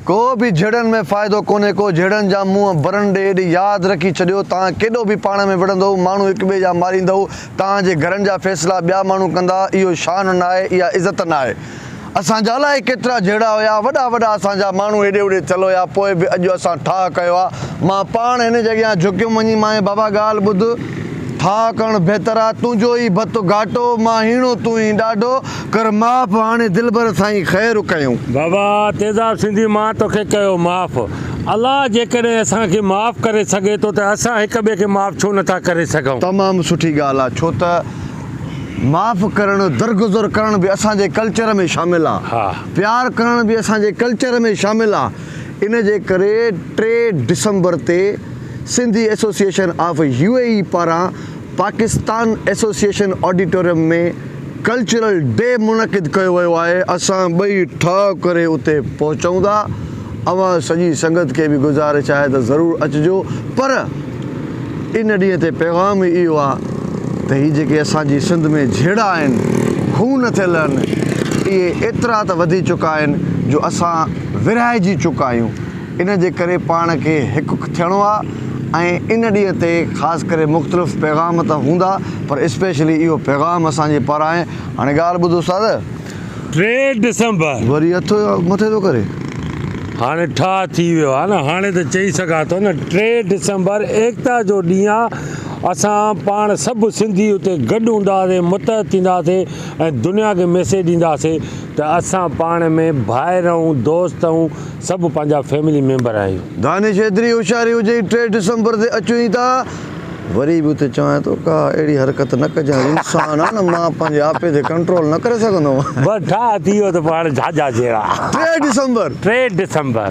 ڪو به جھيڙن ۾ فائدو ڪونھي ڪو جھيڙن جا منھن برن ڏي ايڏي ياد رکي ڇڏيو تان ڪيڏو به پاڻ ۾ وڙھندئو ماڻھو ھڪ ٻئي جا ماريندئو تان جي گھرن جا فيصلا ٻيا ماڻھو ڪندا اھو شان ناھي اھا عزت ناھي اسان جا الائي ڪيترا جھيڙا ھيا وڏا وڏا اسان جا ماڻھو ھيڏي ھوڏي ٿيل ھيا پوء به اڄ اسان ٺاھه ڪيو آ مان پاڻ ھن جي اڳيان جھڪيم وڃي مانء بابا ڳالھ ٻڌ ٺاھه ڪرڻ بھتر آ تنھنجو ئي بت گھاٽو مان ھيڻو تون ھين ڏاڍو ڪر معاف هاڻي دلبر سائين خير ڪيون. بابا تيزاب سنڌي مان توکي ڪيو معاف. الله جيڪڏهن اسان کي معاف ڪري سگهي ٿو ته اسان هڪ ٻئي کي معاف ڇو نه ٿا ڪري سگهون. تمام سٺي ڳالهه آ ڇو ته معاف ڪرڻ درگذر ڪرڻ به اسان جي ڪلچر ۾ شامل آ ها. پيار ڪرڻ به اسان جي ڪلچر ۾ شامل آ ان جي ڪري ٽي ڊسمبر تي Sindhi association of U A E پاران Pakistan association auditorium ۾ cultural day منعقد ڪيو ويو آهي اسان ٻئي ٺاء ڪري اتي پهچون ٿا اوهان سڄي سنگت کي به گذارش آهي ته ضرور اچجو پر ان ڏينهن تي پيغام ئي اهو آهي ته هي جيڪي اسان جي سنڌ ۾ جهيڙا آهن هو نه ٿي لهن اهي ايترا ته وڌي چڪا آهن جو اسان ورهائجي چڪا آهيون. ان جي ڪري پاڻ کي هڪ ٿيڻو آ ۽ ان ڏينهن تي خاص ڪري مختلف پيغام ته هوندا پر اسپيشلي اهو پيغام اسان جي پارانهن هاڻي ڳالهه ٻڌ استاد. ٽي ڊسمبر. وري اٿو يا مٿي ٿو ڪري. هاڻي ٺاهه ٿي ويو آ نه هاڻي ته چئي سگهان ٿو نه ٽي ڊسمبر ايڪتا جو ڏينهن آ اسان پاڻ سڀ سنڌي اتي گڏ هونداسي متحد ٿينداسي ۽ دنيا کي ميسيج ڏينداسي ته اسان پاڻ ۾ ڀائر اهون دوست اهون سڀ پنهنجا فيملي ميمبر آهيون. دانش ايتري هوشياري هجئي ٽي ڊسمبر تي اچون ئي ٿا. وري به اتي چوانء ٿو ڪا اهڙي حرڪت نه ڪجانء انسان آ نه مان پنهنجي آپي تي ڪنٽرول نه ڪري سگهندو هوان. بس ٺاهه ٿي ويو ته پوء هاڻي جهاجها جهيڙا. ٽي ڊسمبر. ٽي ڊسمبر.